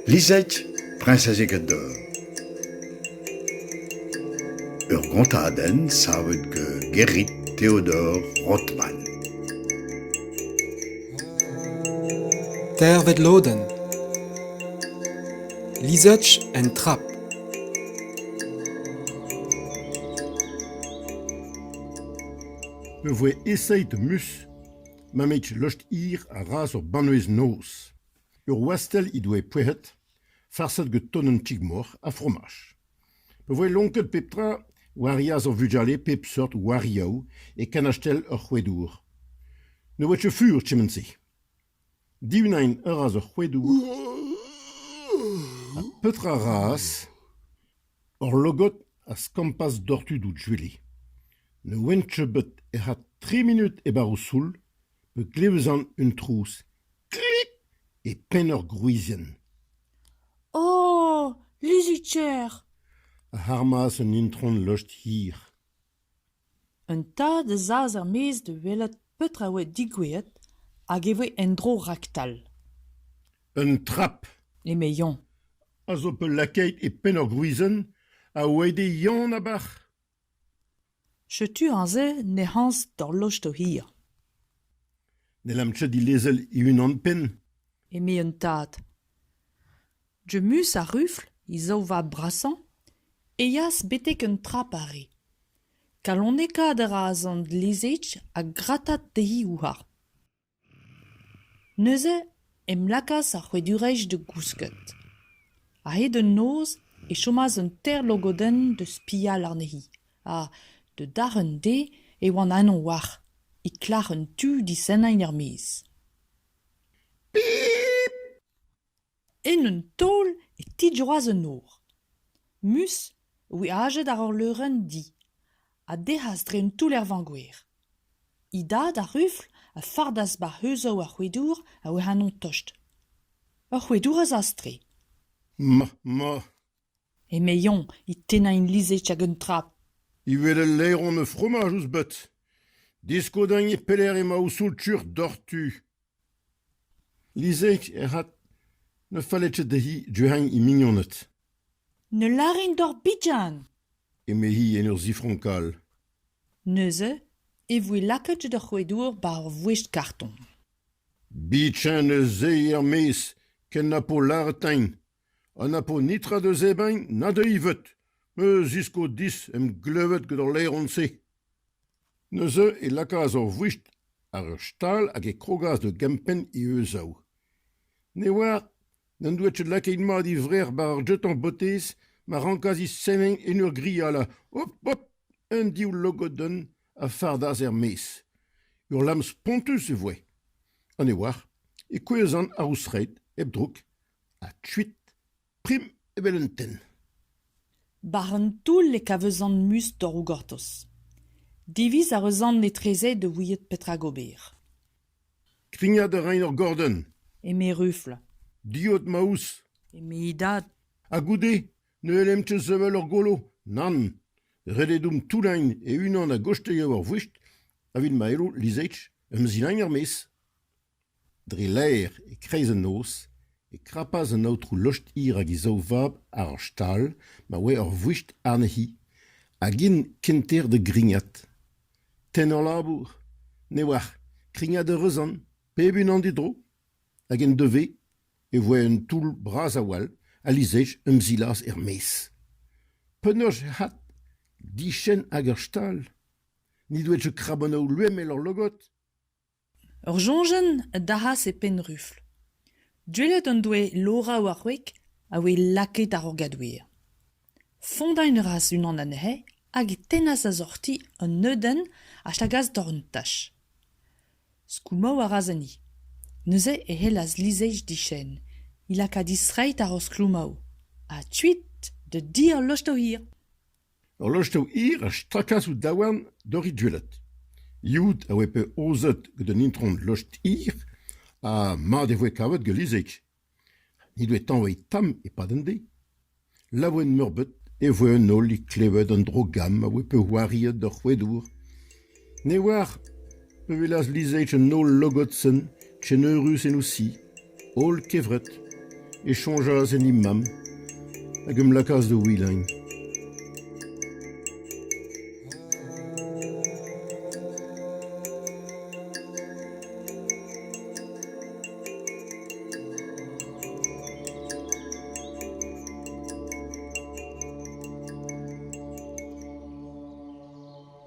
Lizette, priñsez Egador. Ur gontadenn savet gant Gerrit Theodor Rothman. Teirvet lodenn Lizette en trap. e voe esaeet Mus, mammig lost-hir a razas ur banvez-noz. Ur wastell he doe pouezhet, farset gant ton un ti-mor ha fromaj. Pa voe lonket pep tra war yas ar vugale pep seurt warioù e kanastell ur c'houedour. Ne oa ket fur kement-se. Divinaen a razas ar c'houedour ha petra a razas Hor logod a skampas doc'h tud o juilh. Ne ouent nebeut ec'h a tri munud e-bar o soul pa glevjont un trouz klik e penn ur gwrizienn. O, lizhig-ker! a armas un intron lostr hir. Un tad a zas er-maez da welet petra a oa digouezet hag e voe en-dro raktal. Un trap eme Yann. a zo peulakaet e penn ur gwizenn a oe d'e Yann abarc'h. Setu aze nec'hañs d'ar lost hir, N'hellamp ket dilezel e-unan-penn. eme un tad. Jemmus ha Rufl, he zaou vab brasañ, eas betek un tra pare. Kalonekaat a ra sant Lezech ha gratañ dezhi houarn. Neuze em lakaas ar c'hoadurezh da gousket. A-hed an noz e chomas un teir logodenn da spial anezhi ha, da dar un dez, e oan anv war, e klar un tu disennañ er-maez. Pip ! En un taol e tijoas an nor. Mus weajet àr ur leurenn di a dec'has dre un toull er vañgoer. He dad, ar rufl, a fardas barzh heuzañ ar c'houedour a oa ennañ tost. Ur c'houedour a zas-tre. Ma, ma, eme Yoñ é tennañ e lizhig hag un tra. evel ul laeron a fromaj ouzh bet. Disko din e pelec'h emañ ho soultr doc'htu. Lizhig ec'hot ne felle ket dezhi druc'hañ he mignoned. Ne lârin deoc'h bihan! eme-hi en ur zifronkal. Neuze e voe lakaet d'ur c'hoadour war ur vouezh kartoñ. Bihan ez eo er-maez ken na po lâret din. Ha na po netra da zebriñ na dezhi veut. Me zisko dis em glevet gant al laeron-se. Neuze e lakaas ur vouched àr ur stal hag e krogas da gempenn e euzav. Ne'oar n'en doa ket lakaet mat e vrec'h war ar jeton-botez ma rankas he sevel en ur grialañ hop hop un div logodenn a fardas er-maez. Ur lamm spontus e voe. Ha ne oar e kouezhan ar ouzh-straed hep droug. ha kuit, prim evel un tenn. War an toull e kavezan muz torroù gortoz. Diviz a reuzan etreze da ouiet petra gober. Krignat a rain ur gordenn. eme Rufl. Diot ma ouzh. eme he dad. Ha goude, ne ellem ket sevel ur golo. Nann. Ret eo domp toullain e-unan a-gostez eo ar vouest, evit ma elo lizech em zilain er-maez. Dre laer, e-kreiz an noz, e krapas an aotrou Lost-hir hag e zaou-vab àr ur stal ma oa ur vouched anezhi hag int kenter da grignat. Tennañ labour ? Ne'oar, krignat a reus an, pep unan d'e dro. Hag en devez e voe un toull bras a-walc'h ha lizhaj emzilas er-maez. Penaos ec'h at ? Dichen hag ur stal ? N'he doa ket krabanaoù loemel hor logod ? Ur soñjenn a dalc'has e Penrufl. Duellet en doe Laura war wreg a voe lakaet àr ur gadouer. Fondañ a ras unan anezhe hag e tennas a-zoc'hti un neudenn a stagas doc'h un tach. Skoulmañ a ras enni. Neuze e c'hellas Lizheich diskenn, he laka distreiñ àr o skloumaoù, ha kuit da dizh al lostour hir. Ur lostev hir a strakaas ouzh daouarn Dorri Duellat. Youd a oa bet aozet gant un intron lost hir ha mat e voe kavet gant Lizig. N'he doe tañvaet tamm e-pad an deiz. Laouen-meurbet e voe an holl e klevet an dro-gamm a oa bet c'hoariet d'ar c'hoadour. Ne oar ma welas Lizage an holl logotenn keneurus en o si. Holl kevret e soñjas en he mamm hag em lakaas da wilañ.